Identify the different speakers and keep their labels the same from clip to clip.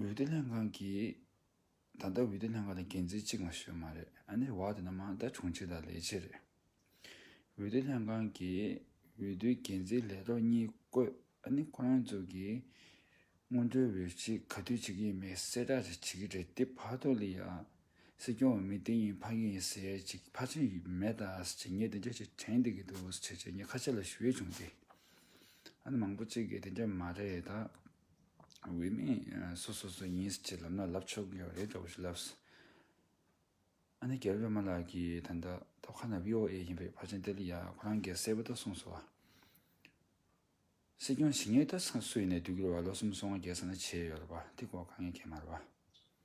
Speaker 1: འོས་བསྡུ་ལྷན་ཁང་གིས། ད་ལྟ་འོས་བསྡུ་ལྷན་ཁང་ལ་འགན་འཛིན་གཅིག་མ་ཞིག་མ་རེད་ཨ་ནེ་བ་དེ་ན་མང་དག་བྱུང་གཅིག་དང་ལས་བྱེད་རེད། འོས་བསྡུ་ལྷན་ཁང་གིས་འོས་བསྡུའི་འགན་འཛིན་ལས་ཐོག་གཉིས་བསྐོས་ཨ་ནེ་ཁོ་རང་ཚོ་གིས། སྔོན་འགྲོའི་འོས་གཞི་ག་དུས་བྱེད་ཀྱི་ཡིན་མེད་གསལ་བསྒྲགས་ཅིག་བྱེད་ཀྱི་རེད་དེ་བར་དོ་ལི་ཡ། སྲིད་སྐྱོང་འོས་མི་དེ་ཡིན་ཕ་གི་ཡིན་ཟེར་ཅིག་ཕ་ཆེན་ཡོད་མེད་དང་ཟེར་ཅིག་ངས་དེ་འདྲ་ཞིག་དྲན་བསྡད་ཀྱི་འདུག་ཟེར་ཅིག་ངས་ཁ་ཆེ་ལ་ཞུ་ཡས་བྱུང་སྟེ། ཨ་ནེ་མང་པོ་གཅིག་གིས་དེ་འདྲ་མ་རེད་ད། འོས་མི་སུ་སོ་སོ་ཡིན་ཟེར་ལབ་ན་ལབ་ཆོག་གི་རེད་འདྲ་བོ་ཞིག་ལབས། ཨ་ནེ་རྒྱལ་པོས་མ་ལགས་ཀྱི་ད་ལྟ་ཐོག་ཁ་ན VOA ཡིན་པའི་བར་ཆེན་ཏེ་ལི་ཡ་ཁོ་རང་གིས་གསལ་པོ་ཏོ་གསུངས་སོང་བ། སྲིད་སྐྱོང་ཞི་ངས་ད་སུ་ཡིན་ནས་བསྡུ་རྒྱུར་བ་ལོ་གསུམ་སོ་ལྔ་བརྒྱད་ས་ན་བྱས་ཡོད་ལ་བ་དེ་གོ་ག་ངས་མཁྱེན་མར་བ།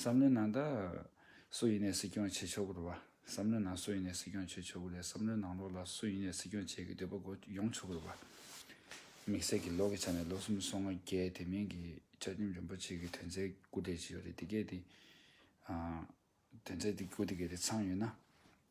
Speaker 1: བསམ་བློའི་ནང་ད། སུ་ཡིན་ནས་སྲིད་སྐྱོང་བྱེད་ཆོག་གི་རེད་བ། བསམ་བློའི་ནང་སུ་ཡིན་ནས་སྲིད་སྐྱོང་བྱེད་ཆོག་གི་རེད་བསམ་བློའི་ནང་ལོགས་ལ་སུ་ཡིན་ནས་སྲིད་སྐྱོང་བྱེད་ཀྱི་འདོད་པ་གོ་ཡོང་ཆོག་གི་རེད་བ། དམིགས་བསལ་གྱི་ལོགས་ཀྱི་ཆ་ནས་ལོ་གསུམ་སོ་ལྔ་བརྒྱད་དེ་མིན་གྱི་བཅའ་ཁྲིམས་རིན་པོ་ཆེ་གི་དོན་ཚན་དགུ་སྟེ་བཞི་ཡོད་རེད་དེ་གས་དེ། དོན་ཚན་དེ་དགུ་དེ་གས་དེ་ཚང་ཡོད་ན།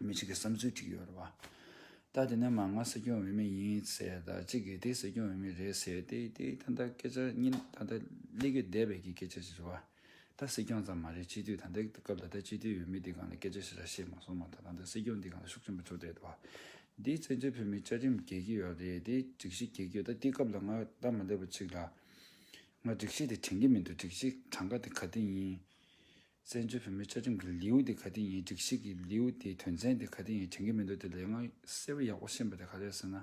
Speaker 1: མི་གཅིག་གི་བསམ་ཚུལ་བྲིས་ཡོད་རེད་བ། ད་དེ་ནས་མ་ང་སྲིད་སྐྱོང་འོས་མི་ཡིན་ཟེར་ད་གཅིག་གིས་དེ་སྲིད་སྐྱོང་འོས་མི་རེད་ཟེར་དེ་དེ་ད་ལྟ་སྐད་ཆ་གཉིས་ད་ལྟ་གླེ་གུས་བསྡད་པའི་གི་སྐད་ཆ་ཞིག་རེད་བ། ད་སྲིད་སྐྱོང་ཙམ་མ་རེད་སྤྱི་འཐུས་ད་ལྟའི་སྐབས་ད་ལྟ་སྤྱི་འཐུས་འོས་མི་འདི་གང་ལ་སྐད་ཆ་ཞིག་ལ་བཤད་མ་སོང་མ་ད་ད་ལྟ་སྲིད་སྐྱོང་འདི་གང་ལ་ཤུགས་ཆེན་པོ་ཚུགས་བསྡད་བ། འདིས་བཙན་བྱོལ་བོད་མི་བཅའ་ཁྲིམས་འགལ་གི་ཡོད་རེད་དེ་སྒྲིག་གཞི་འགལ་གི་ཡོད་ད་དེ་སྐབས་ལ་ང་སྟབས་མ་ལེགས་པ་གཅིག་ལ། ང་སྒྲིག་གཞི་དེ་དྲན་གི་མི་འདུག་སྒྲིག་གཞི་གྲངས་ཀ་དེ་ག་དེ་ཡིན། བཙན་བྱོལ་བོད་མིའི་བཅའ་ཁྲིམས་ཀྱི་ལེའུ་དེ་ག་དེ་ཡིན་སྒྲིག་གཞི་གི་ལེའུ་དེའི་དོན་ཚན་དེ་ག་དེ་ཡིན་དྲན་གྱི་མི་འདུག་དེ་ལས་སྔར་གསལ་བོ་ཡག་པོ་ཤེས་པ་དེ་ག་རེད་ཟེར་ན།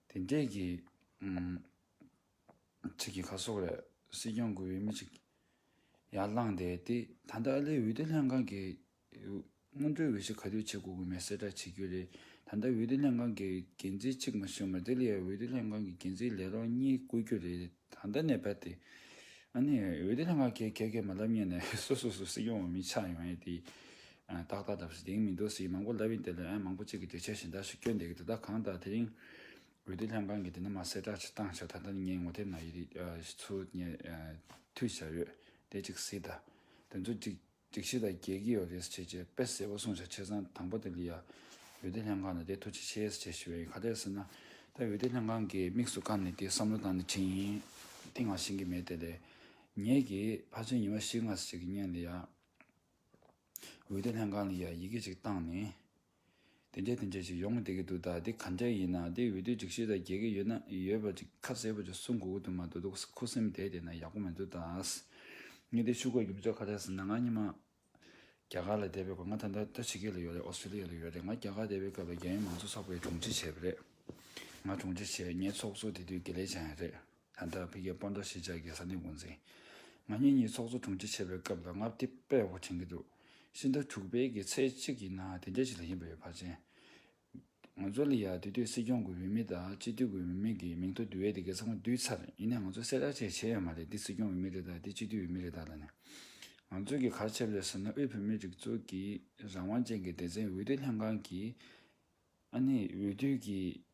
Speaker 1: དེ་འདྲས་ཀྱི་ཁྲིད་ཀྱི་ཁ་སོག་རེད། སྲིད་སྐྱོང་དགོས་པའི་མི་ཅིག་ཡར་བླངས་དེ་དེ་ད་ལྟ་ཨ་ལེའི་འོས་བསྡུ་ལྷན་ཁང་གི་སྔོན་འགྲོའི་འོས་གཞི་ག་དུས་ཆེད་བསྐོ་དགོས་མིན་གསལ་བསྒྲགས་བྱེད་རྒྱུ་རེད། ད་ལྟ་འོས་བསྡུ་ལྷན་ཁང་གི་འགན་འཛིན་གཅིག་མ་ཞུས་མར་ལྡི་ལི་ཡར་འོས་བསྡུ་ལྷན་ཁང་གི་འགན་འཛིན་ལས་རོགས་གཉིས་བསྐོ་རྒྱུ་རེད་ད་ལྟ་ནས་བལྟས། འོས་བསྡུ་ལྷན་ཁང་གས་གལ་གལ་མ་ལབ་ཉན་ནས་སོ་སོ་སུ་སྲིད་སྐྱོང་བ་མི་ཆགས་ཡོང་ཡས་དེ། ཏག་ཏག་ལབ་སྲིད་དེང་མི་འདུག་སྲིད་མང་པོ་ལབ་ཡིན་དེ་ལས་ཨན་མང་པོ་གཅིག་གི་དུས་ཆད་བཞིན་ད་ཞུ་སྐྱོན་འདེགས་དེ་དག་གང་དག་དེ་རིང་འོས་བསྡུ་ལྷན་ཁང་གི་དེ་ནས་མར་གསལ་བསྒྲགས་ཆེད་བཏང་ཆགས་ད་ལྟ་ནས་ཉན་ངོ་དེབ་ནང་ཡི་རིགས་ཚུལ་ཉན་ཐུས་བྱ་ཡོད་དེ་གཅིག་སྲིད་ད་དོན་ཚོ་གཅིག། སྒྲིག་གཞི་དང་རྒྱལ་ཁའི་ཡོ་ལེས་བྱས་རྗེས་དཔེ་བསལ་བ་སོང་ཆ་ཆེ་ཚང་དང་པོ་དེ་ལི་ཡ་འོད་སྡེར་ལྷན་ཁང་དང་དེའི་ཐུགས་རྗེ་ཆེ་ཡེས་བྱས་ཞི་བའི་ཁ་གཏད་ཟེར་ན། ད་འོད་སྡེར་ལྷན་ཁང་གིས་དམིགས་སུ་བཀར་ནས་དེའི་བསམ་བློ་དང་ནི་དྲིན་ཡིན་ཏིང་ང་ཞིང་གི་མེད་དེ་ལས། ངེད་ཀྱིས་ཕར་ཚུར་ཉི་མ་བཞི་ལྔ་ཟེར་གྱི་བརྙན་ལི་ཡ་འོད་སྡེར་ལྷན་ཁང་ལི་ཡ་ཡི་གེ་གཅིག་བཏང་ནས། དེ་འདྲའི་དེ་འདྲའི་ཞིག་ཡོང་གི་བསྡད་ཀྱི་འདུག་ད་འདི་ག་འདྲའི་ཡིན་ནའང་དེ་འོས་བསྡུའི་སྒྲིག་གཞི་ལ་འགལ་གྱི་ཡོད་ན་ཡོད་པ་ཅིག་ཁ་གསལ་པོ་ཅིག་གསུང་དགོས་ཀྱི་འདུག་མ་འདུག་འདུག་ས་ཁུ་སིམ་བསྡད་བསྡད་ན་ཡག་པོ་མི་འདུག་ད། ངས་འདི་ཕྱུག་སྐོར་གྱི་མི་ཚོགས་ཁ་བྲལ་ཟེར་ན་ང་གཉིས་མ། རྒྱ་གར་ལ་བསྡད་པའི་སྐོར་ང་ད་ལྟ་ད་ཕྱི་གེ་ལ་ཡོད་རེད་ཨོ་སི་ཏྲེ་ལི་ཡ་ལ་ཡོད་རེད་ང་རྒྱ་གར་བསྡད་པའི་སྐབས་ལ་རྒྱ་ཡི་མང་གཙོ་ཚོགས་པའི་དྲུང་ཆེ་བྱས་པ་རེད། ང་དྲུང་ཆེ་བྱས་ངའི་ཚོགས་གཙོ་དེ་དུས་དགེ་ལེགས་བྱང་ཡང་རེད། ད་ལྟ་བོད་རྒྱའི་སྤོ་མདོ་ཞེས་བྱ་དགའི་ས་གནས་འགོ་འཛིན། ང་གཉིས་གཉིས་ཚོགས་གཙོ་དྲུང་ཆེ་བྱས་པའི་སྐབས་ལ་ལྔ་བརྒྱ་པད་བྷོ་དྲན་གྱི་འདུག་ཤིན་ཏུ་དྲུག་པའི་གི་ཚེས་གཅིག་ཡིན་ན་དེ་འདྲ་ཞིག་ལ་ཡིན་པ་ཡོད་བར་ཅན། ང་ཚོ་ལ་ཡ་དུས་དུས་སྲིད་སྐྱོང་གི་འོས་མི་དང་སྤྱི་འཐུས་ཀྱི་འོས་མི་གི་མིང་ཐོ་འདུས་འོས་དེ་གས་ཚང་མ་བསྡུས་ཚར་ཡིན་ནས་ང་ཚོ་གསལ་བསྒྲགས་བཅས་བྱས་ཡོད་མ་རེད་འདི་སྲིད་སྐྱོང་འོས་མི་རེད་དཱ་འདི་སྤྱི་འཐུས་འོས་མི་རེད་དཱ་ལ་ནི། ང་ཚོ་གི་གར་ཆེབ་ལས་ཟེར་ན་དབུས་བོད་མིའི་སྒྲིག་འཛུགས་ཀྱི་རང་དབང་ཅན་གི་སྡེ་ཚན་འོས་བསྡུ་ལྷན་ཁང་གིས་ཨ་ནི་འོས་བསྡུ་གྱིས།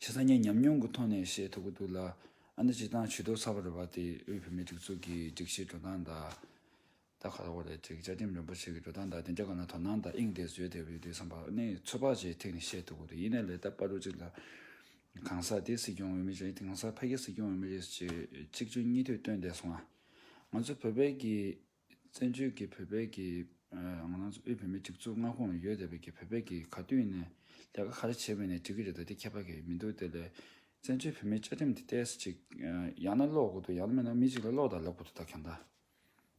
Speaker 1: ཞེས་སང་ཉིན་ཉམས་མྱོང་གི་ཐོག་ནས་བཤད་ཐུབ་ཀྱི་འདུག་ལ། ཨ་མདོ་སྤྱི་ཐང་ཇུས་གཏོགས་ཚགས་པར་རུ་བ་དེའི་དབུས་བུད་མེད་སྒྲིག་འཛུགས་ཀྱི་སྒྲིག་གཞིའི་འགྲོ་སྟངས་དང། ད་ཁ་ཐོར་ལས་བྱེད་བཅའ་ཁྲིམས་རིན་པོ་ཆེ་གི་འགྲོ་སྟངས་དང་དེ་འདྲ་གང་ལ་དོ་སྣང་དང་དབྱིངས་དེ་བཟོས་བསྡད་པ་ཡོད་དུས་བསམ་པ་ནི་ཚོད་དཔག་བྱས་ཐིག་ནས་བཤད་ཐུབ་ཀྱི་འདུག་ཡིན་ན་ལས་ཐབས་པ་རུ་གཅིག་ལ། གང་ཟག་དེ་སྲིད་སྐྱོང་འོས་མི་རེད་གང་ཟག་ཕ་གི་སྲིད་སྐྱོང་འོས་མི་རེད་ཅེས་གཅིག་གཅོད་གཉིས་མཐུད་བཏོན་བསྡད་སོང་ང། ང་ཚོ་བོད་པའི་གི། བཙན་བྱོལ་གྱི་བོད་པའི་གི་ང་རང་ཚོ་དབུས་བོད་མི་གཅིག་མཚུངས་མངའ་ཁོངས་ལ་ཡོད་བསྡད་པའི་གི་བོད་པའི་གི་ག་དུས་ནས་ལས་ཀ་ག་རེ་བྱེད་མིན་ནས་འདྲི་གི་རེད་ད་དེ་ཁྱད་པར་གི་མི་འདུག་དེ་ལས། བཙན་བྱོལ་བོད་མིའི་བཅའ་ཁྲིམས་དེ་བལྟས་སུ་ཅིག་ཡང་ན་ཀློག་དགོས་འདུག་ཡང་ན་མེད་ན་མི་གཅིག་ལ་ཀློག་དང་ལབ་དགོས་འདུག་ད་གང་ལྟར།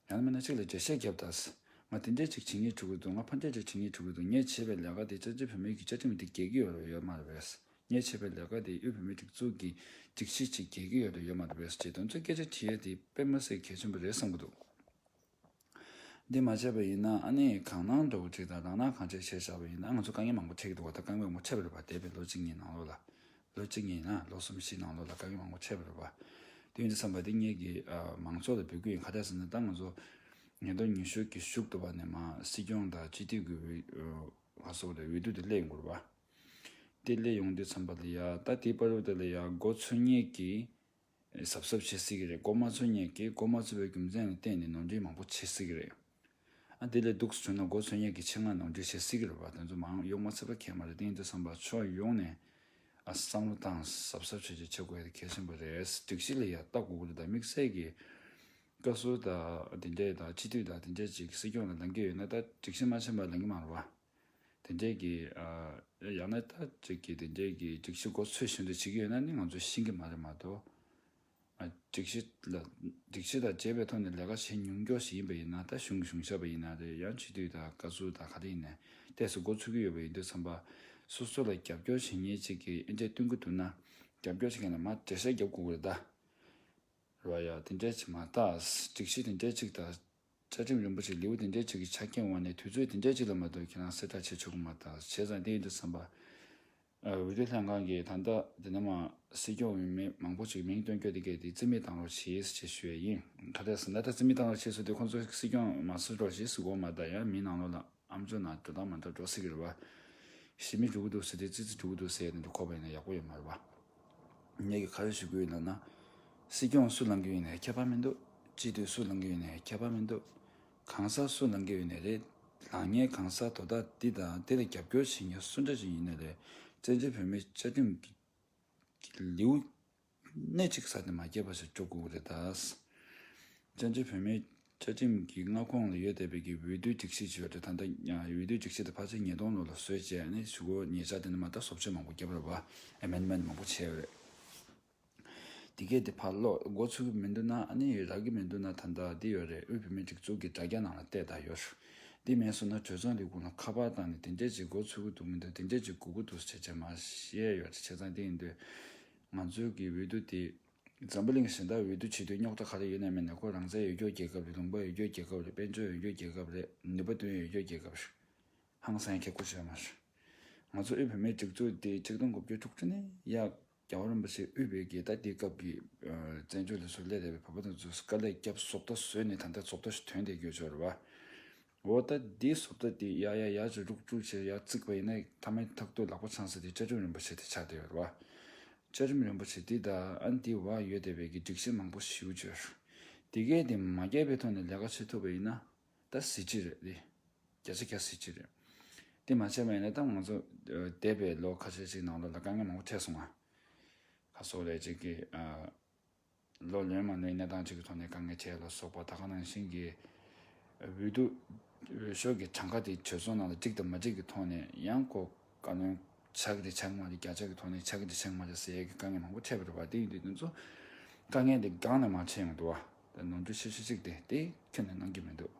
Speaker 1: ཡང་ན་མེད་ན་གཅིག་ལ་འགྲེལ་བཤད་བརྒྱབ་ད་ཟེར། ང་དེ་འདྲས་ཅིག་བྱེད་ངེས་འཁྲུ་གི་འདུག་ང་ཕ་འདྲས་ཅིག་བྱེད་ངེས་འཁྲུ་གི་འདུག་ངས་བྱེད་པའི་ལས་ཀ་དེ་བཙན་བྱོལ་བོད་མིའི་གི་བཅའ་ཁྲིམས་དེ་འགལ་གི་ཡོད་མ་རེད། ངས་བྱས་པའི་ལས་ཀ་དེ་གཡོ་བོད་མིའི་སྒྲིག་འཛུགས་ཀྱི་སྒྲིག་གཞི་ཅིག་རྒྱལ་ཁའི་ཡོལ་དུ་ཡོད་མ་རེད་ཅེས་དོན་གཙོའི་སྐད་ཆ་དྲིས་ཡོད་དེ་དཔེ་མ་ཟད་གལ་ཆེན་པོ་རེད་བསམ་གྱི་འདུག་འདི་མ་བྱས་པ་ཡིན་ན་ཨ་ནེ་གང་ན་འགྲོ་གི་ཁྲིད་དང་རང་ན་གང་བྱེད་བྱས་བཞག་པ་ཡིན་ན་ང་ཚོ་དཀའ་ངལ་མང་པོ་འཕྲད་ཀྱི་འདུག་བ་ད་དཀའ་ངལ་མང་པོ་འཕྲད་པ་རེད་བ་འདས་པའི་ལོ་གཅིག་གཉིས་ནང་ལོགས་ལ། ལོ་གཅིག་གཉིས་ཡིན་ན་ལོ་གསུམ་བཞི་ནང་ལོགས་ལ་དཀའ་ངལ་མང་པོ་འཕྲད་པ་རེད་བ། དོན་དུ་བསམ་པ་འདི་གཉིས་ཀྱིས་མང་ཚོགས་ལ་འབོད་སྐུལ་ཡང་ག་ལྟར་ཟེར་ན་ད་ང་ཚོ་ཉིས་སྟོང་ཉི་ཤུ་གྱི་གཞུག་ཏུ་བ་ནས་མ་སྲིད་སྐྱོང་དང་སྤྱི་འཐུས་ཀྱི་འོས་གསོ་ལས་འོས་བསྡུ་དེ་སླེབས་ཡོང་གི་རེད་བ། དེ་ལས་ཡོང་དུས་ཚངས་པ་ལས་ཡག་ད་ལྟའི་པར་རོ་དེ་ལས་ཡག་སྒོ་འཚོལ་སྙེག་གིས་གཟབ་གཟབ་བྱེད་སྲིད་ཀྱི་རེད་སྒོ་མ་འཚོལ་སྙེག་གིས་སྒོ་མ་འཚོལ་བའི་རྒྱུ་མཚན་ལ་བརྟེན་ནས་ནོར་འཁྲུལ་མང་པོ་བྱེད་སྲིད་ཀྱི་རེད། ཨ་དེ་ལས་སྡུག་ཟོས་ན་སྒོ་འཚོལ་སྙེག་གིས་ཆེད་མངགས་ནོར་འཁྲུལ་བྱེད་སྲིད་ཀྱི་རེད་བ་དེ་ཚོ་མང་གཡོག་མ་ཚད་པ་ཁས་མ་རེད་དེང་དུས་བསམ་པ་ཕྱོགས་ཡོངས་ནས་བསམ་བློ་བཏང་གཟབ་གཟབ་བྱེད་རྒྱུ་བྱེད་དགོས་ཡ་དེ་གལ་ཆེན་པོ་རེད་སྒྲིག་གཞི་ལ་ཡ་ལྟ་དགོས་ཀྱི་རེད་ད་དམིགས་བསལ་གྱི་བཀའ་ཟུར་དང་དེ་འདྲས་དང་སྤྱི་འཐུས་དང་དེ་འདྲས་ཅིག་སྲིད་སྐྱོང་ལ་ལང་གི་ཡོད་ན་ད་སྒྲིག་གཞི་མ་ཆེན་པ་ལང་གི་མ་རེད་བ། དེ་འདྲའི་གི། ཡང་ན་ད་ཅིག་གི་དེ་འདྲའི་གི་སྒྲིག་གཞི་འགོ་ཚུགས་བཞིན་དུ་བྱེད་ཀྱི་ཡོད་ན་ནི་ང་ཚོ་ཤེས་ཀྱི་མ་རེད་མ་གཏོགས། སྒྲིག་གཞི་ལ། སྒྲིག་གཞི་དང་བཅས་པའི་ཐོག་ནས་ལས་ཀ་བྱེད་མྱོང་མགྱོགས་ཤིག་ཡིན་པ་ཡིན་ན་ད་གཞུང་གི་གཞུང་ཞབས་པ་ཡིན་ན་རེད་ཡང་ཕྱི་དུས་དང་བཀའ་ཟུར་དང་ག་དེ་ཡིན་ནས་ལྟས་སུ་འགོ་ཚུགས་ཀྱི་ཡོད་པ་ཡིན་དུས་བསམ་པ། སོ་སོ་ལ་རྒྱབ་སྐྱོར་བྱེད་ཉེས་ཅིག་གི་ཨེ་འདྲས་སྟོན་གྱི་འདུག་ན། རྒྱབ་སྐྱོར་བྱེད་མཁན་ལ་མ་བྲེལ་ཤ་རྒྱབ་དགོས་ཀྱི་རེད་ད། རེད་བ་ཡ། དེ་འདྲས་ཅིག་མ་གཏགས་སྒྲིག་གཞི་དེ་འདྲས་ཅིག་ད། བཅའ་ཁྲིམས་རིན་པོ་ཆེ་ལེའུ་དེ་འདྲའི་ཆེ་གི་ཆ་རྐྱེན་འོག་ནས་དུས་ཚོད་དེ་འདྲའི་ཆེ་ལ་མ་གཏོགས་ཁྱེད་རང་གསལ་བསྒྲགས་བྱེད་ཆོག་གི་མ་ཐག་བྱས་ཙང་དེ་ཡིན་དུ་བསམ་པ། འོས་བསྡུ་ལྷན་ཁང་གིས་ད་ལྟ་དེ་ནི་མ་སྲིད་སྐྱོང་འོས་མི་མང་པོ་ཞིག་མིང་བཏོན་སྐྱོད་དེ་གས་དེ་རྩིས་མེད་བཏང་རོགས་བྱེས་ཞེས་ཞུ་བས་ཡིན། ད་ལྟ་ཟིན་ད་ལྟ་རྩིས་མེད་བཏང་རོགས་བྱེས་ཟུར་དེ་ཁོང་ཚོ་སྲིད་སྐྱོང་མ་སྲིད་རོགས་བྱེས་སུ་གོ་མ་ད་ཡང་མིན་ནང་ལོགས་ལ། ཨ་མཚོ་ན་དོ་དང་མ་མཐར་འགྲོ་ཟེར་གི་རེད་བ། ཞི་མི་འཇུག་གི་འདུག་ཟེར་དེ་ཙི་ཙི་འཇུག་གི་འདུག་ཟེར་ནས་འདི་ཁོག་པ་ཡིན་ན་ཡག་པོ་ཡོད་མ་རེད་བ། ངས་ཀྱི་ཁ་ཡོད་ཞུ་གི་ཡོད་ལབ་ན། སྲིད་སྐྱོང་སུ་ལང་གི་ཡོད་ནས་ཁྱད་པར་མི་འདུག་སྤྱི་འཐུས་སུ་ལང་གི་ཡོད་ནས་ཁྱད་པར་མི་འདུག་གང་ཟག་སུ་ལང་གི་ཡོད་ནས་རེད་ལགས་ངས་གང་ཟག་དོ་བདག་འདི་དང་འདི་ལ་རྒྱབ་སྐྱོར་བྱེད་མཁན་སུ་འདྲ་ཅིག་ཡིན་ན་རེད་བཙན་བྱོལ་བོད་མི་བཅའ་ཁྲིམས་ཀྱི་ལེའུ་གནད་ཅིག་ས་དེ་མ་སྐྱེས་པ་ཞིག་འགྲོ་དགོས་ཀྱི་རེད་ད། བཙན་བྱོལ་བོད་མིའི་བཅའ་ཁྲིམས་ཀྱི་མངའ་ཁོངས་ལ་ཡོད་བསྡད་པའི་གི་འོས་བསྡུའི་སྒྲིག་གཞི་ཞིག་ཡོད་རེད་ད། འོས་བསྡུའི་སྒྲིག་གཞི་དེ་ཕར་ཚུར་ཉིས་སྟོང་ལོ་ལ་བཟོས་བཅས་ནས་ཞུ་སྒོ་ཉེས་ཆ་དེ་འདྲ་མ་གཏོགས་ཟོབ་ཆོས་མང་པོ་བརྒྱབ་རེད་བ། Amendment མང་པོ་བྱས་ཡོད་རེད། དེ་གས་དེ་ཕར་ལོག་སྒོ་ཚུགས་གི་མི་འདུག་ན་ནི་རག་གི་མི་འདུག་ན་ད་ལྟ་འདི་ཡོད་རེད་དབུས་བོད་མིའི་སྒྲིག་འཛུགས་ཀྱི་དྲ་རྒྱ་ནང་ལ་བལྟས་ད་ཡོད། འདི་མེད་སོང་ན་གྲོས་ཚང་ལས་ཁུངས་ལ་ཁ་པར་བཏང་ནས་དེ་འདྲས་ཅིག་སྒོ་ཚུགས་གི་འདུག་མི་འདུག་དེ་འདྲས་ཅིག་དགོས་ཀྱི་འདུག་ཟེར་བྱས་མ་བཤད་ཡོད་རེད་བྱས་ཙང་དེ་ཡིན་དུས། ང་ཚོའི་གི་འོས་བསྡུ་དེ། འཛམ་བུ་གླིང་གཞན་དག་འོས་བསྡུ་བྱེད་དུས་རྙོག་དྲ་ག་རེ་ཡོད་ནའི་མིན་ན་ཁོ་རང་བཙན་ཡོད་རྒྱོ་རྒྱལ་ཁབ་རེད་ལུང་པ་ཡོད་རྒྱོ་རྒྱལ་ཁབ་རེད་དཔལ་འབྱོར་ཡོད་རྒྱོ་རྒྱལ་ཁབ་རེད་ནུས་པ་འདོན་ཡོད་རྒྱོ་རྒྱལ་ཁབ་རེད། ཧང་སངས་ཁྱེད་སྐུ་བྱེད་མ་ཤོག། ང་ཚོ་དབུས་བོད་མའི་སྒྲིག་འཛུགས་དེ་ཆིག་སྟོང་དགུ་བརྒྱ་དྲུག་ཅུ་ནས་ཡ། རྒྱ་བོད་རིན་པོ་ཆེ་དབུས་བོད་རྒྱལ་དག་དེའི་སྐབས་ཀྱི། བཙན་བྱོལ་ལས་བཟོ་སླད་རེད་པའི་བོད་པ་དང་རྫུས་སྐར་ལས་སྐྱབས་སོག་ལྟ་བཟོས་ནས་ད་ལྟ་སོག་ལྟ་ཞིག་དོན་དེ་རྒྱོ་ཆོར་བ། འོ་ད་དེའི་སོབ་ད་དེ་ཡ་ཡ་ཡ་ཇོ་ལུག་ཅུག་ཅེས་ཡར་བརྩིགས་པ་ཡིན་ན་ཐ་མའི་ཐག་ཏུ་ལག་པ་འཆང་ས་དེ་བཅའ་ཁྲིམས་རིན་པོ་ཆེ་དེ་ཆགས་བསྡད་ཡོད་ལ། བཅའ་ཁྲིམས་རིན་པོ་ཆེ་དེ་དང་ཨན་དེའི་བར་ཡོད་བསྡད་པའི་གི་སྒྲིག་གཞི་མང་པོ་ཞིའུ་བཅོས། དེ་གས་དེ་མ་རྒྱལ་པའི་ཐོག་ནས་ལས་ཀ་བྱེད་ཐུབ་པ་ཡིན་ན་ད་གཟི་བརྗིད་རེད་དེ། བརྒྱ་ཆ་གྱ་གཟི་བརྗིད་རེད། དེ་མ་བྱས་པ་ཡིན་ན་ད་ང་ཚོ་འདས་པའི་ལོ་ཁ་ཤས་ཅིག་ནང་ལ་ལ་དཀའ་ངལ་མང་པོ་འཕྲད་སོང་ང། ཁ་སོག་ལས་ཅིག་གིས། ལོ་ལོན་མ་ནུས་གནས་སྟངས་གཅིག་གི་ཐོག་ནས་དཀའ་ངལ་ཆེ་ལ་སོགས་པ་ད་ག་ནང་བཞིན་གྱི་འོས་བསྡུ་འོས་ཤོག་གི་གྲངས་ཀ་དེ་གྲོས་ཚོགས་ནང་ལ་གཅིག་དང་མ་གཅིག་གི་ཐོག་ནས་ཡང་ཁོ་བཀའ་བློན་ཆགས་གི་དེ་ཆགས་མ་གཅིག་བརྒྱ་ཆ་གི་ཐོག་ནས་ཆགས་གི་དེ་ཆགས་མ་གཅིག་ཟེར་ཡས་ཀྱི་དཀའ་ངལ་མང་པོ་འཕྲད་པ་རེད་བ་དེ་ཡིན་དུས་དེ་ཚོ་དཀའ་ངལ་དེ་སྒང་ནས་མ་ཆེ་ཡང་དུ་བ་དེ་ནོར་འཁྲུལ་ཆེ་ཤོས་གཅིག་དེ་དེ་ཁྱོན་ནས་གནང་གི་མི་འདུག་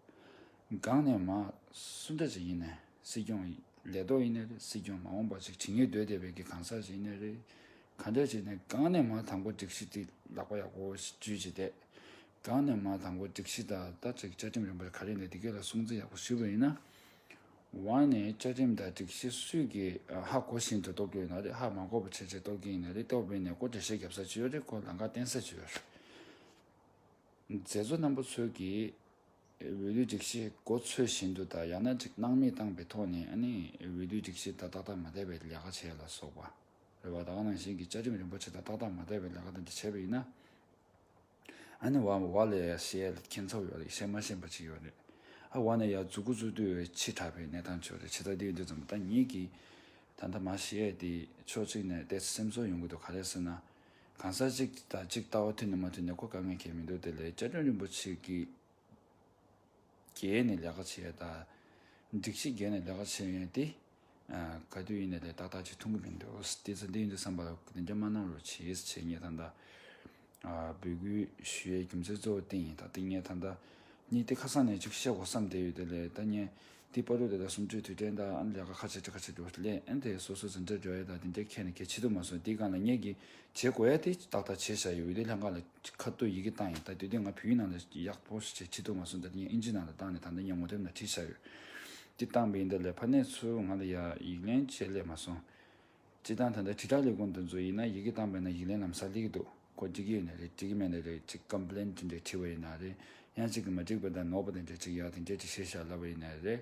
Speaker 1: སྒང་ནས་མ་སུ་འདྲ་ཅིག་ཡིན་ནས་སྲིད་སྐྱོང་ལས་ཐོག་ཡིན་ནས་རེད་སྲིད་སྐྱོང་མ་འོངས་པ་ཅིག་བྱེད་ངེས་འདོད་བསྡད་པའི་གི་གང་ཟག་ཞིག་ཡིན་ནས་རེད་གང་འདོད་བྱས་ནས་གང་ནས་མ་དང་པོ་སྒྲིག་གཞི་དེ་ལག་པ་ཡག་པོ་འཇུས་བྱས་ཏེ། གང་ནས་མ་དང་པོ་སྒྲིག་གཞི་དང་ལྟ་ཚིག་བཅའ་ཁྲིམས་རིམ་པར་ག་རེ་ལས་འདི་གས་ལ་སྲུང་བརྩི་ཡག་པོ་ཞུས་པ་ཡིན་ན། ཝང་ནས་བཅའ་ཁྲིམས་དང་སྒྲིག་གཞི་སུས་ཀྱིས་ཧ་གོ་བཞིན་དུ་གཏོར་གྱི་ཡོད་ན་རེད་ཧ་མ་གོ་བར་ཆེད་ཆེད་གཏོར་གྱི་ཡིན་ན་རེད་གཏོར་བས་ནས་ཀོ་འགྲེལ་བཤད་རྒྱབ་ས་ཅི་ཡོད་རེད་ཀོ་ལ་འགའ་བསྟན་ས་ཅི་ཡོད་རེད། མཛད་གཙོ་རྣམ་པོ་ཚོས་ཀྱིས་འོས་བསྡུའི་སྒྲིག་གཞི་གོ་ཚོད་བཞིན་དུ་དང་ཡང་ན་སྣང་མེད་བཏང་པའི་ཐོག་ནས་ཨ་ནི་འོས་བསྡུའི་སྒྲིག་གཞི་དང་ཏག་ཏག་མ་བསྡད་པའི་ལས་ཀ་བྱས་ལ་སོགས་པ། རེ་བ་དང་ནང་བཞིན་གྱི་བཅའ་ཁྲིམས་རིན་པོ་ཆེ་དང་ཏག་ཏག་མ་བསྡད་པའི་ལས་ཀ་དེ་འདྲ་བྱས་པ་ཡིན་ན། ཨ་ནེ་བ་མོ་བ་ལས་ཡ་ཤེས་ཡ་ལས་མཁྱེན་ཚོར་ཡོད་ལ་ཡིད་ཤེས་མ་ཤེས་པ་ཅིག་ཡོད་རེད། ཨ་བ་ནི་ཡ་རྫུ་གུ་རྫུ་དུས་འི་ཕྱི་དྲགས་པའི་གནས་སྟངས་ཆོད་རེད་ཕྱི་ཟླ་འདིའི་འདི་ཙམ་ད་ཉིད་ཀྱི་ད་ལྟ་མ་ཤེས་ཡས་དེ་ཕྱོགས་གཅིག་ནས་བལྟས་ཚེ་སེམས་ཚོར་ཡོང་གི་འདུག་ག་ལས་ཟེར་ན། གང་ཟག་གཅིག་དང་གཅིག་ལྟ་བ་མཐུན་ནས་མ་མཐུན་ནས་གོ་དཀའ་ངལ་འཁྱེར་མི་འདུག་དེ་ལས་བཅའ་ཁྲིམས་རིན་པོ་ཆེ་གི་རྒྱལ་ནས་ལས་ཀ་བྱེད་ཡས་དང། སྒྲིག་གཞི་རྒྱལ་ནས་ལས་ཀ་བྱེད་ཡས་དེ། ག་དུས་ཡིན་ན་དེ་ཏག་ཏག་ཅིག་མཐོང་གི་མི་འདུག་དེ་ཚོ་འདི་ཡིན་དུ་བསམ་པ་དེ་འདྲ་མ་གནང་རོགས་བྱེས་ཟེར་བྱེས་ངས་ད་ལྟ་འབོད་སྐུལ་ཞུ་ཡའི་རྒྱུ་མཚན་གཙོ་བོ་དེ་ཡིན་ད་ལྟ་ངས་ད་ལྟ་ཉིད་དེ་ཁ་སང་ནས་ཅིག་བཤད་དགོ་བསམ་བསྡད་ཡོད་དེ་ལས་ད་ངས་དེ་པར་རུ་དེ་ད་གསུམ་བཅུའི་དུས་དྲན་ད་ཨ་ལས་ཀ་ཁ་ཆེ་ཁ་ཆེ་འགྲོ་སླད་ཨན་དེ་སོ་སོ་ཟིན་བྲིས་འགྲོ་ཡ་ད་དེ་འདྲ་ཁས་ནས་ཁས་འཆི་དུ་མ་སོང་དེ་གང་ལ་ངས་གི་བྱེད་དགོ་ཡ་དེ་ཏག་ཏག་བྱེད་བཞག་ཡོད་དེ་ལྷན་ཁང་ལ། ཁ་བཏོད་ཡི་གེ་བཏང་ཡོད་ད་དུས་དེ་ང་བོད་ཡིག་ནང་ལ་ཡག་པོ་ཞིག་ཆེད་དུ་མ་གསུངས་ད་དེ་ཡང་ཨིན་ཇི་ནང་ལ་བཏང་ནས་ད་ལྟ་ངའི་ངོ་དེབ་ནང་བྲིས་བཞག་ཡོད། དེ་བཏང་པའི་འདི་ལས་ཕ་ནད་ཚོས་ང་ལ་ཡག་ཡིག་ལན་བྱེད་ལས་མ་སོང། སྤྱི་བཏང་ད་ལྟ་དྲིལ་བསྒྲགས་ལས་ཁུངས་དུ་འཛུལ་ཡིན་ན་ཡི་གེ་བཏང་པའི་ནང་ཡིག་ལན་ལམ་སང་ལེགས་འདུག་གོ་འགྲིག་གི་ཡོད་ན་རེད་འགྲིག་གི་མེད་ན་རེད་ཅིག Complain དེ་འདྲས་བྲིས་པ་ཡིན་ན་རེད་ཡང་ཅིག་གིས་མ་འགྲིག་པ་དང་ནོར་པ་དེ་འདྲས་ཅིག་ཡག་དེ་འདྲས་ཅིག་བཤད་བཞག་ལབ་པ་ཡིན་ན་རེད།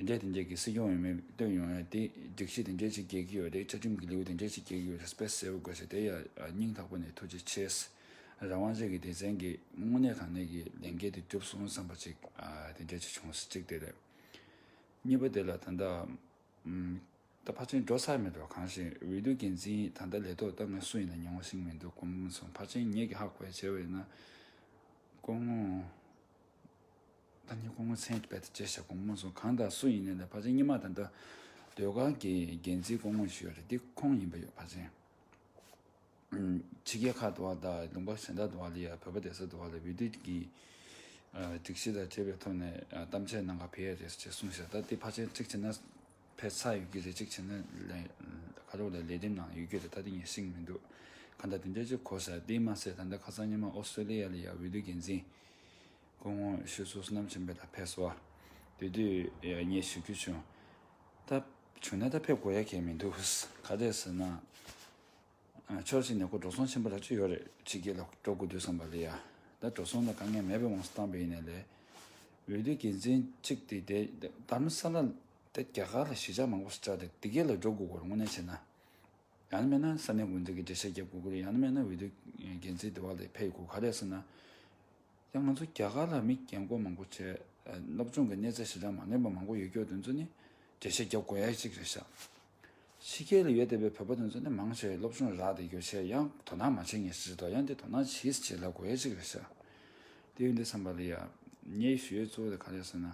Speaker 1: དེ་འདྲའི་དེ་འདྲའི་གི་སྲིད་སྐྱོང་ཡོད་མེད་བསྟོད་ཡོང་ཡ་དེ་སྒྲིག་གཞི་དེ་འདྲའི་ཅིག་རྒྱལ་གི་ཡོད་དེ་བཅའ་ཁྲིམས་གི་ལེའུ་དེ་འདྲའི་ཅིག་རྒྱལ་གི་ཡོད་རེད་པས་གསལ་བོ་དགོས་ཟེར་དེ་ཡང་སྙིང་ཐག་པོ་ནས་ཐུགས་རྗེ་ཆེ། རང་དབང་རྗེས་ཀྱི་སྡེ་ཚན་གྱི་དངོས་གནས་དང་ནས་ཀྱི་ལས་འགན་དེ་གྲུབ་སོང་བསམ་པ་ཅིག་དེ་འདྲའི་ཅིག་བྱུང་གཅིག་དེ་རེད། གཉིས་པ་དེ་ལ་ད་ལྟ་ད་ཕར་ཆེན་འགྲོ་ས་མེད་རོགས་གང་ཞིག་འོས་བསྡུ་འགན་འཛིན་ད་ལྟ་ལས་ཐོག་ལྟ་ངན་སུ་ཡིན་ན་མྱོང་བ་ཞིག་མི་འདུག་གོམས་སོང་ཕར་ཆེན་ངེད་ཀྱི་ཧ་གོ་བའི་བྱས་བ་ཡིན་ན་དཀོན་ངོ། བདག་ཉིད་སྐུ་ངོ་མཚན་དཔེ་དང་བཅས་ཞབས་གོང་མ་སོགས་གང་དང་སུ་ཡིན་ནས་ད་བ་ཆེན་སྙེ་མ་དང་འདྲ། ཟློས་གར་གྱི་རྒྱན་རྩིས་སྐུ་ངོ་ཞུས་རེད་འདི་ཁོང་ཡིན་པ་ཡོད་བ་ཆེན། ཕྱི་རྒྱལ་ཁག་དུ་བ་དང་ལུང་པ་གཞན་དག་དུ་བ་ལ་ཡང་བོད་པ་སྡེ་སྲིད་དུ་བ་ལ་འོས་བསྡུ་གྱིས་སྒྲིག་གཞི་དང་བཅས་པའི་ཐོག་ནས་གཏམ་བཤད་གནང་ག་བེ་ཡས་རེད་ཅེས་གསུངས་ཞེས་ད་འདི་བ་ཆེན་ཁྲིག་བྱེད་ན་ཕེ་ཚ་ཡོད་ཀྱི་རེད་ཅིག་བྱེད་ན་ཁ་ལོ་ལ་ལས་འདེམས་ནང་ཡོད་ཀྱི་རེད་ད་འདི་ངས་ཤིག་མི་འདུག་ག་ད་འདི་འདྲ་ཅིག་གོ་ས་དེའི་མ་ཚད་ད་འདི་ཁ་སང་སྙེ་མ་ཨོ་སི་ཏྲེ་ལི་ཡ་ལ་ཡང་འོས་བསྡུ་རྒྱན་འཛིན། སྐུ་ངོ་ཤི་གསོན་སོ་ནམ་ཆེན་པོས་ད་ཕེབས་སོ། དེ་དུས་ངས་ཞུ་རྒྱུ་བྱུང། ད་བྱུང་ན་ད་ཕེབས་དགོས་ཡ་གལ་མི་འདུག་ག་དེ་ཟེར་ན། ཕྱོགས་གཅིག་ནས་སྐུ་འགྲོ་སོང་ཆེན་པོ་ལ་ཅི་ཡོད་རེད་ཕྱི་རྒྱལ་ལ་འགྲོ་དགོས་དུས་བསམ་པ་ལས་ཡ་ད་འགྲོ་སོང་ལ་དཀའ་ངལ་མེད་པའི་དབང་བཏང་པ་ཡིན་ནའི་ལས། འོས་བསྡུའི་འགན་འཛིན་གཅིག་དེ་དེ་ལྟར་མི་ས་ལ་དེ་རྒྱ་གར་ལ་གཞིས་ཆགས་མང་པོ་ཞིག་བཅག་སྟེ་དེ་གའི་ལ་འགྲོ་དགོས་སྐོར་དངོས་གནས་བྱས་ན། ཡང་ན་མེད་ན་ས་གནས་འགོ་འཛིན་གྱི་འགྲེལ་བཤད་བརྒྱབ་དགོས་ཀྱི་རེད་ཡང་ན་མེད་ན་འོས་བསྡུའི་འགན་འཛིན་དེ་བ་ལས་ཕེབས་དགོས་ག་དེ་ཟེར་ན། ཡང་ང་ཚོ་རྒྱ་གར་ལ་མི་རྒན་རྒོན་མང་པོ་བྱས། སློབ་སྦྱོང་གི་གནས་ཚད་ཧྲིལ་གྲངས་མ་ངེས་པ་མང་པོ་ཡོད་སྐྱོ་དོན་ཚོ་ནི་འགྲེལ་བཤད་རྒྱབ་དགོས་ཡག་ཅིག་རེད་ཤག། ཕྱི་རྒྱལ་ལ་ཡོད་བསྡད་པའི་བོད་པ་དོན་ཚོ་ནི་མང་ཆེ་བས་སློབ་སྦྱོང་རག་བསྡད་རྒྱུ་ཆེ་ཡང་དོ་སྣང་མ་བྱེད་ངེས་ཞིག་རེད་དོ་ཡང་དེ་དོ་སྣང་བྱེད་བྱེད་ལ་དགོས་ཡག་ཅིག་རེད་ཤག། དེ་ཡོད་འདི་བསམ་པ་ལ་ཡ། ངའི་ཞུ་ཡས་གཙོ་བོ་དེ་ག་རེད་ཟེར་ན།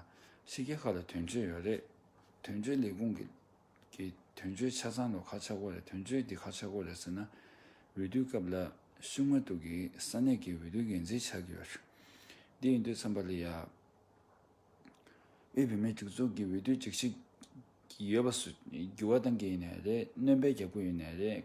Speaker 1: ཕྱི་རྒྱལ་ཁག་ལ་དོན་གཅོད་ཡོད་རེད། དོན་གཅོད་ལས་ཁུངས་ཀྱི། གི་དོན་བརྗོད་ཆ་ཚང་ལོ་ཁ་ཆག་གོ་རེ་དོན་བརྗོད་འདི་ཁ་ཆག་གོ་རེ་ཟེར་ན། འོས་བསྡུའི་སྐབས་ལ་ཤུགས་མ་གཏུགས་ཀྱི་ས་གནས་ཀྱི་འོས་བསྡུ་འགན་འཛིན་ཆགས་ཀྱི་ཡོད། འདི་ཡིན་དུས་མཚམས་པ་ལི་ཡཱ་ཨུས་བུད་མེད་སྒྲིག་འཛུགས་ཀྱི་འོས་བསྡུ་འགྲིག་ཆགས་ཀྱི་ཡོད་པ་སུ་འགྱུར་བ་གཏང་གི་ཡིན་ནས་རེད་གནོན་པའི་རྒྱབ་གོས་ཡོད་ནས་རེད།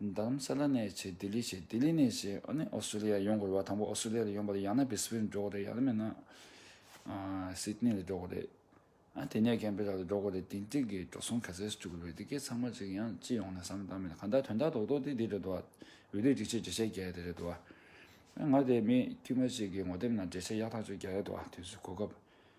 Speaker 1: འདམ་ས་ལ་ནས་བྱེད་ལྡི་ལི་བྱེད་ལྡི་ལི་ནས་བྱེད་ཨོ་ནི་ཨོ་སི་ལི་ཡ་ཡོང་དགོས་རེད་བ་དང་པོ་ཨོ་སི་ལི་ལ་ཡོང་པ་རེད་ཡང་ན་བི་སི་བྷིར་འགྲོ་དགོས་རེད་ཡག་ལ་མེད་ན་སིད་ནི་ལ་འགྲོ་དགོས་རེད་ཨ་དེ་ནས་ཀན་བྷི་ར་ལ་འགྲོ་དགོས་རེད་དེ་འགྲིག་གི་འགྲོ་སོང་ག་ཚད་སུ་བཅུག་རེད་འདི་གའི་ཚང་མ་གཅིག་ཡང་སྤྱི་ཡོངས་ནས་བསམ་བློ་བཏང་མེད་གང་ལྟར་དོན་དག་རྡོག་རྡོག་དེ་འདི་རེད་འདུག་བ་འོས་བསྡུ་སྒྲིག་ཆས་བརྒྱ་ཆའི་བརྒྱ་ཡ་དེ་རེད་འདུག་བ་ང་དེ་མི་དཀྱུས་མ་གཅིག་གི་ངོ་དེབ་ནང་བརྒྱ་ཆའི་ཡག་ཐག་ཆོད་བརྒྱ་རེད་འདུག་བ་དུས་ཚོད་གོ་སྐབས།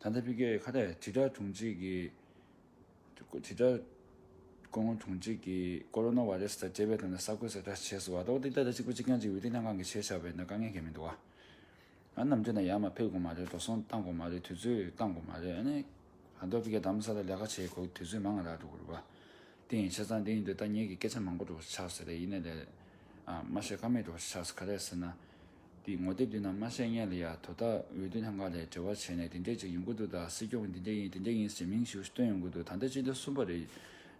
Speaker 1: ད་ལྟ་ཕི་ཀེ་ཁ་ཐེ་དྲིལ་བསྒྲགས་དྲུང་ཆེ་གིས་དྲིལ་བསྒྲགས་སྐུ་ངོ་དྲུང་ཆེ་གིས་ཀོ་རོ་ནཱ་བྷ་རེས་དང་བཅས་པའི་དོན་དུ་གསར་འགོད་གསལ་བསྒྲགས་བྱས་ཟེར་བ་ལྟ་བུ་འདི་ད་ལྟ་གཅིག་པུ་གཅིག་རྐྱང་གཅིག་འོས་བསྡུ་ལྷན་ཁང་གིས་བྱས་ཆགས་པས་ན་དཀའ་ངལ་གལ་མི་འདུག་ཨ། ནམ་རྒྱུན་ན་ཡར་མར་ཕེབས་དགོས་མ་རེད་འགྲོ་སོང་བཏང་དགོས་མ་རེད་དུས་ཚོད་བཏང་དགོས་མ་རེད་ཨ། ད་ལྟ་ཕི་ཀེ་གདམ་ས་ལ་ལས་ཀ་བྱེད་དགོས་དུས་ཚོད་མང་ང་རག་འགྲོ་དགོས་རེད་པ། དེ་ཡིན་ཆ་ཚང་དེ་ཡིན་དུས་ཐ་སྙད་ཀྱི་སྐད་ཆ་མང་པོ་འགྲོ་བ་ཆགས་ཟེར་རེད་ཡིན་ནའི་ལས། ཨ། མ་བཤད་ཀ་མེད་འགྲོ་བ་ཆགས་ཟེར་ག་རེ་ཟེར་ན། དེའི་ངོ་དེབ་དེ་ནང་དམར་ཤད་ཉལ་ལ་ཡ་དོ་ད་འོས་བསྡུ་ལྷན་ཁང་ལས་དྲི་བ་བྱས་ནས་དེ་འདྲས་ཅིག་ཡིན་དགོས་འདུག་ད་སྲིད་སྐྱོང་གི་དེ་འདྲས་ཡིན་དེ་འདྲས་ཡིན་ཟེར་མིང་ཞིག་བཏོན་ཡོང་གི་འདུག་ད་ལྟ་སྤྱི་ཟླ་གསུམ་པ་རེད།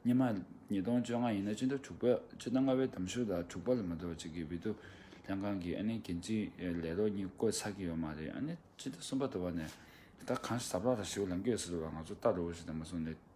Speaker 1: ཉི་མ། ཉིས་སྟོང་བཅོ་ལྔ་ཡིན་ན་སྤྱི་ཟླ་དྲུག་པ། སྤྱི་ཟླ་ལྔ་བའི་དམ་ཤུགས་ལ་དྲུག་པ་ལ་མ་གཏོགས་ཅིག་གི་འོས་བསྡུ་ལྷན་ཁང་གི་ཨ་ནེ་འགན་འཛིན་ལས་རོགས་གཉིས་བསྐོས་ཚར་གྱི་ཡོད་མ་རེད་ཨ་ནེ་སྤྱི་ཟླ་གསུམ་པ་དོར་བ་ནས་ད་གང་ཞིག་ཟབ་རག་རག་ཞིག་ལ་འགོས་ཟེར་བ་ང་ཚོ་ལྟ་རོགས་ཞིག་དང་མ་གསུངས་ནས།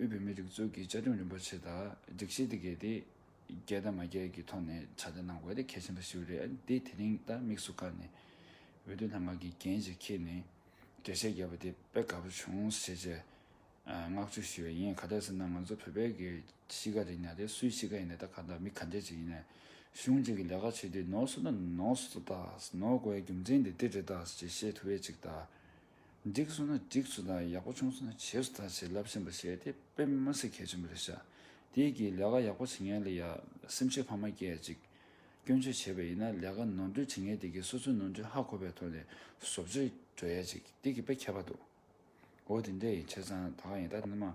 Speaker 1: དབུས་བོད་མིའི་སྒྲིག་འཛུགས་ཀྱི་བཅའ་ཁྲིམས་རིན་པོ་ཆེ་དང་སྒྲིག་གཞི་འདི་གའི་དེ་རྒྱལ་དང་མ་རྒྱལ་གྱི་ཐོག་ནས་ཕྱག་ལས་གནང་དགོས་དེ་གལ་ཆེན་པོ་ཞིག་རེད་འདི་དེ་རིང་ད་དམིགས་སུ་བཀར་ནས་འོས་བསྡུ་ལྷ་མགར་གྱི་འགན་ཞིག་འཁྱེར་ནས་གྲལ་བཤད་བརྒྱབ་པ་དེ་དཔེ་དགའ་པོ་བྱུང་ཞེས་ཆེ་བསྔགས་བརྗོད་ཞུས་པ་ཡིན་ག་དེར་ཟེར་ན་ང་ཚོ་བོད་པའི་གི་གཤིས་ཀ་རེད་ཉག་དེ་སུའི་གཤིས་ཀ་ཡིན་ནས་ད་ག་འདྲ་མི་ག་འདྲས་ཅིག་ཡིན་ནས་གཞུང་གཅིག་གི་ལས་ཀ་བྱེད་དུས་ནོར་སོ་ན་ནོར་སོ་ད་ནོར་དགོས་རྒྱུ་མཚན་དེ་འདི་རེད་ད་ཅེས་བཤད་ཐུབ་བས་ཅིག་ད། འགྲིགས་སོང་ན་འགྲིགས་སུ་དང་ཡག་པོ་བྱུང་སོང་ན་བྱེས་སུ་དང་བྱེད་རླབས་ཆེན་པོ་བྱས་ཏེ་དཔེ་མི་སྨྲ་སྲིད་གལ་ཆེན་པོ་རེད་ཤག་དེ་གིས་ལས་ཀ་ཡག་པོ་བྱེད་མཁན་ལ་ཡང་སེམས་ཤུགས་འཕར་མ་སྐྱེད་ཅིག་སྐྱོན་བརྗོད་བྱས་པ་ཡིན་ན་ལས་ཀ་ནོར་འཁྲུལ་བྱེད་མཁན་དེ་གིས་སོ་སོའི་ནོར་འཁྲུལ་ཧ་གོ་པའི་ཐོག་ནས་བཟོ་བཅོས་འགྲོ་ཡ་ཅིག་དེ་གིས་དཔེ་ཁྱད་པར་འདུག་འོ་དེ་འདྲ་ཡིན་ཆ་ཚང་ད་ག་ཡིན་ད་ནི་མ།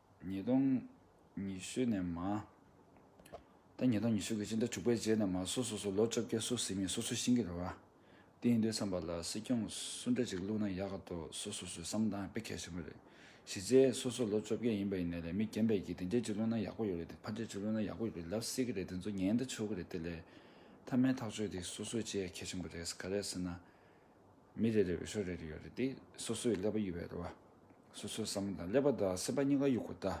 Speaker 1: ཉིས་སྟོང་ཉི་ཤུ་ནས་མ། ད་ཉིས་སྟོང་ཉི་ཤུ་གི་སྤྱི་ཟླ་དྲུག་པའི་རྗེས་ནས་མ་སོ་སོ་སོར་ལོ་བཅོ་བརྒྱད་སུ་ཟིན་མིན་སོ་སོའི་ཤེས་ཀྱི་རེད་བ། དེ་ཡིན་དུས་བསམ་པ་ལ་སྲིད་སྐྱོང་སུ་འདྲ་ཅིག་བླུགས་ན་ཡག་ག་འདུག་སོ་སོ་སོའི་བསམ་སྟངས་དཔེ་གལ་ཆེན་པོ་རེད། གཞི་རྩའི་སོ་སོར་ལོ་བཅོ་བརྒྱད་ཡིན་པ་ཡིན་ནའི་ལས་མི་རྒན་པའི་གྱི་དེ་འདྲས་ཅིག་བླུགས་ན་ཡག་པོ་ཡོད་རེད་དེ་ཕ་འདྲས་ཅིག་བླུགས་ན་ཡག་པོ་ཡོད་རེད་ལབ་སྲིད་ཀྱི་རེད་དེ་ཚོ་ཉན་ད་ཆོག་གི་རེད་དེ་ལས། མཐའ་མའི་ཐག་གཅོད་དེ་སོ་སོས་བྱེད་ཡ་གལ་ཆེན་པོ་རེད་ག་རེད་ཟེར་ན། མི་རེ་རེ་འོས་ཤོག་རེ་རེ་ཡོད་རེད་དེ། སོ་སོས་ཀླད་པ་གཡུག་བས་རེད་བ། སོ་སོས་བསམ་བློ་དང་ཀླད་པ་དང་སེམས་པ་གཉིས་ཀ་གཡུག་དགོས་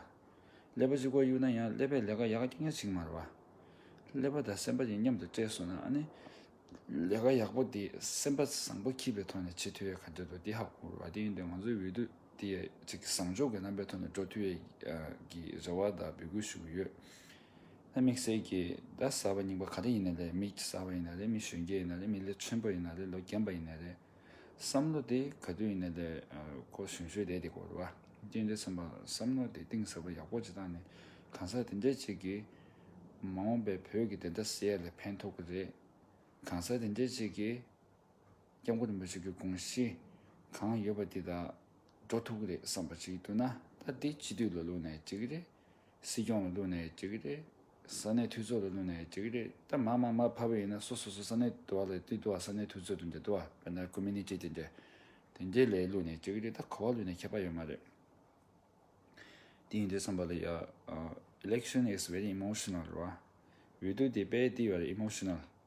Speaker 1: རེད་ད། ཀླད་པ་གཅིག་པོ་གཡུག་ན་ཡང་ཀླད་པས་ལས་ཀ་ཡག་གི་ངེས་ཅིག་མ་རེད་བ། ཀླད་པ་དང་སེམས་པ་གཉིས་མཉམ་དུ་སྤྲད་སོང་ན་ཨ་ནི། ལས་ཀ་ཡག་པོ་དེ་སེམས་པ་བཟང་པོ་འཁྱིལ་པའི་ཐོག་ནས་བྱེད་ཐུབ་ཡས་ག་འདོད་དོ་དེ་ཧ་གོ་དགོས་རེད་བ་དེ་ཡིན་དུས་ང་ཚོའི་འོས་བསྡུ་དེ་ཡས་གཅིག་བཟང་ཕྱོགས་ཀྱི་རྣམ་པའི་ཐོག་ནས་འགྲོ་ཐུབ་ཡས་ཀྱི་རེ་བ་དང་འབོད་སྐུལ་ཞུ་གི་ཡོད། དམིགས་བསལ་གྱི་ཟླ་གསར་པ་རྙིང་པ་ག་རེ་ཡིན་ན་རེད་མི་གསར་པ་ཡིན་ན་རེད་མི་གཞོན་སྐྱེས་ཡིན་ན་རེད་མི་ལོ་ཆེན་པོ་ཡིན་ན་རེད་ལོ་རྒན་པ་ཡིན་ན་རེད། བསམ་བློ་དེ་ག་དུས་ཡིན་ན་རེད་ཁོ་གཞོན་ཤོས་དེ་དེ་གོ་རེད་བ། ཀྱེ་འདྲེ་ཚང་པ་བསམ་བློ་དེ་གཏིང་ཟབ་པོ་ཡག་པོ་བྱེད་སྟངས་ནི་གང་ཟག་དེ་འདྲས་ཅིག་གིས་མ་འོངས་པའི་བོད་ཀྱི་བདེན་མཐའ་གསལ་ཡ་ལས་ཕན་ཐོག་གི་རེད། གང་ཟག་དེ་འདྲས་ཅིག་གིས་སྐྱབས་མགོན་རིན་པོ་ཆེ་གི་དགོངས་གཞི་གང་ཡོད་པ་དེ་དག་འགྲོ་ཐུབ་གི་རེད་བསམ་པ་ཅིག་འདུག་ན་ད་འདི་སྤྱི་འཐུས་ལོ་ལོན་ནས་བྱེད་གི་རེད། སྲིད་སྐྱོང་ལ་བསླུས་ནས་བྱེད་ཀྱི་རེད། ས་གནས་འཐུས་ཚོགས་ལ་བསླུས་ནས་བྱེད་ཀྱི་རེད། ད་མ་མ་མ་ཕ་བོ་ཡིན་ན་སོ་སོ་སོ་ས་གནས་དུ་བ་ལ་ཏི་དུ་བ་ས་གནས་འཐུས་ཚོགས་དུ་འདི་དུ་བ་བོད་ནང་ཀུ་མི་ནི་ཅི་དེ་འདི། དེ་འདི་ལས་བསླུས་ནས་བྱེད་ཀྱི་རེད་ད་གོ་བ་ལུས་ནས་ཁྱད་པ་ཡོད་མ་རེད། དེ་ཡིན་དུས་བསམ་པ་ལ་ཡ། Election is very emotional རེད་བ། འོས་བསྡུ་དེ་དཔལ་དེའི་བར emotional།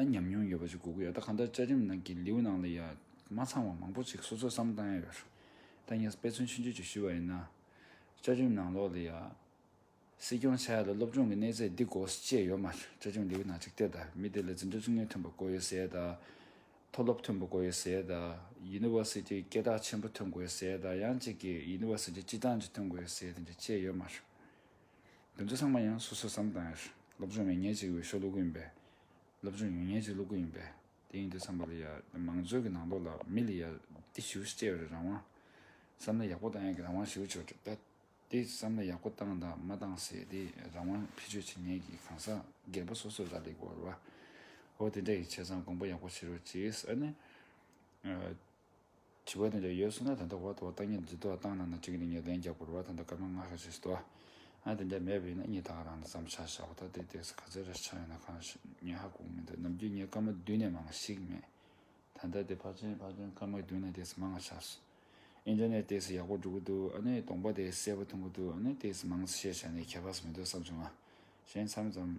Speaker 1: ཨ་ཉམས་མྱོང་ཡོད་པ་ཞིག་དགོས་ཀྱི་ཡོད་ད་ག་ད་བཅའ་ཁྲིམས་ནང་གི་ལེའུ་ནང་ལ་ཡང་མ་ཚང་བ་མང་པོ་ཞིག་སོ་སོས་བསམ་བཏང་ཡ་ཡོད་ད་ངས་དཔེ་མཚོན་ཆུང་ཆུང་ཅིག་ཞུས་པ་ཡིན་ན། བཅའ་ཁྲིམས་ནང་ལོགས་ལ་ཡང། སྲིད་སྐྱོང་བྱ་ཡ་ལ་སློབ་སྦྱོང་གི་གནས་ཚད་འདི་དགོས་ཅེས་ཡོད་མ་རེད་བཅའ་ཁྲིམས་ལེའུ་ནང་ཅིག་བལྟས་ད་མི་དེ་ལ་འཛིན་གྲྭ་བཙུན་ངོས་ཐོན་པ་དགོས་ཡོད་ཟེར་ད། མཐོ་སློབ་ཐོན་པ་དགོས་ཡོད་ཟེར་ད། University སྐད་གྲགས་ཆེན་པོ་ཐོན་དགོས་ཟེར་ད་ཡང་གཅིག་གིས University སྤྱི་བཏང་ཅིག་ཐོན་དགོས་ཡོད་ཟེར་ད་འདྲ་བཅས་ཡོད་མ་རེད། འདི་ཚོ་ཚང་མ་ཡང་སོ་སོའི་བསམ་དང། སློབ་སྦྱོང་མི་ཉན་ཅིག་འོས་ཤོག་བླུག་གི་ཡིན་པས། སློབ་སྦྱོང་ཡོན་ཉན་ཅིག་བླུག་གི་ཡིན་པས། དེ་ཡིན་དེ་བསམ་པ་ལ་ཡ། མང་གཙོའི་གི་ནང་དོག་ལ་མི་ལ་ཡ། དེ་ཞིའུ་ཤི་སྐྱེ་བའི་རང་དབང། བསམ་བློ་ཡག་པོ་བཏང་ཡག་གི་རང་དབང་ཞིའུ་ཆོ་ཏྲ། དེ་བསམ་བློ་ཡག་པོ་བཏང་དང་མ་བཏང་ཟེ་དེ་རང་དབང་ཕི་ཆོས་ཆི་ཉན་གི་གང་ཟག་སྒེར་པོ་སོ་སོ་ར་ལི་གོ་ར། ཧོ་དེ་འདྲ་ཡི་བྱས་ཙང་དགོངས་པ་ཡག་པོ་བྱེད་རོགས་གྱིས་ཨ་ནི། བྱིས་པ་དེ་འདྲ་ཡོད་སོང་ན་ད་ལྟ་བར་དུ་བ་ཏག་ཉིད་འདི་དོ་སྟངས་ནང་ན་ཅིག་ནས་ངས་ལན་རྒྱག་པར་བ་ད་ལྟ་སྐར་མ་ལྔ་ཤར་རྗེས་སུ་དོ་ཨ་དེ་འདྲ་མེད་པ་ཡིན་ན་གཉིད་ཐག་རང་ནས་ཙམ་ཆགས་ཤག་བ་ད་དེའི་སྟེགས་སུ་ག་ཚད་རེ་ཆགས་ཡོད་ན་གང་ཞིག་ངས་ཧ་གོ་གི་མི་འདུག་ནམ་རྒྱུན་ངས་སྐར་མ་བདུན་ནས་མང་བ་ཞིག་མེད་ད་ལྟ་དེ་ཕར་ཕྱིན་ཕར་ཕྱིན་སྐར་མ་བདུན་ནས་སྟེགས་སུ་མང་བ་ཆགས་སོང་ཨིན་ཏེར་ནེད་སྟེགས་སུ་ཡག་པོ་འགྲོ་གི་འདུག་ཨ་ནི་གདོང་པ་དེ་གསལ་པོ་མཐོང་གི་འདུག་ཨ་ནི་སྟེགས་སུ་མང་ཚེ་ཤེས་བྱ་ནི་ཁྱད་པར་སུ་མི་འདུག་བསམ་བྱུང་ང་གཞན་མཚམས་ཙམ།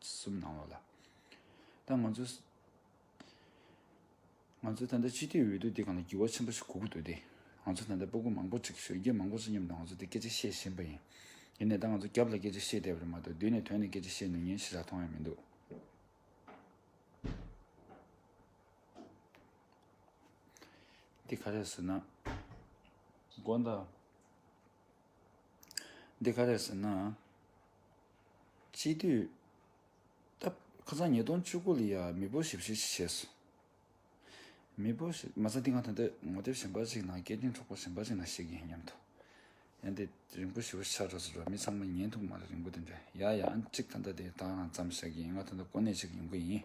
Speaker 1: གསུམ་ནང་ལོགས་ལ། ད་ང་ཚོ། ང་ཚོ་ད་ལྟ་སྤྱི་འཐུས་འོས་བསྡུ་འདི་གང་ལ་འགྱུར་བ་ཆེན་པོ་ཞིག་གོ་གི་འདུག་སྟེ། ང་ཚོ་ད་ལྟ་སྤོ་སྒུག་མང་པོ་ཅིག་གཞོན་སྐྱེས་མང་པོ་ཚོ་མཉམ་དུ་ང་ཚོ་འདི་སྐད་ཆ་བཤད་བཞིན་པ་ཡིན། ཡིན་ནའི་ད་ང་ཚོ་རྒྱབ་ལ་སྐད་ཆ་བཤད་བསྡད་པ་རེད་མ་གཏོགས་མདུན་ནས་དོན་ནས་སྐད་ཆ་བཤད་ནུས་ཉེན་ཞིག་ད་མཐོང་ཡང་མི་འདུག། འདི་ག་རེད་ཟེར་ན། དགོངས་དག། འདི་ག་རེད་ཟེར་ན། སྤྱི་འཐུས། སྟབས། ཁ་སང་ཉིས་སྟོང་བཅུ་དགུ་ལི་ཡར་མི་བུ་ཞིབ་བཤེར་ཞིག་བྱས་སོང། མི་བུ་ཞིག། མ་ཟད་འདི་ག་ད་ལྟའི་ངོ་དེབ་གཞན་པ་ཞིག་ནང་སྐད་འཕྲིན་གྲོགས་པོ་གཞན་པ་ཞིག་ནང་ཞིག་ཡིན་སྙམ་དུ། ཡ་འདི་རིང་པོ་ཞི་བ་ཆགས་གྲབས་སུ་འགྲོ་མི་ཚང་མ་ཉན་ཐུབ་མ་རེད་རིང་པོ་དེ་འདྲ་ཡ་ཡ་ཨང་གཅིག་ད་ལྟ་དེ་དག་ནང་བརྩམས་བཞག་གི་ཡིན་ང་ད་ལྟ་གོ་གནས་ཅིག་ཡོང་གི་ཡིན།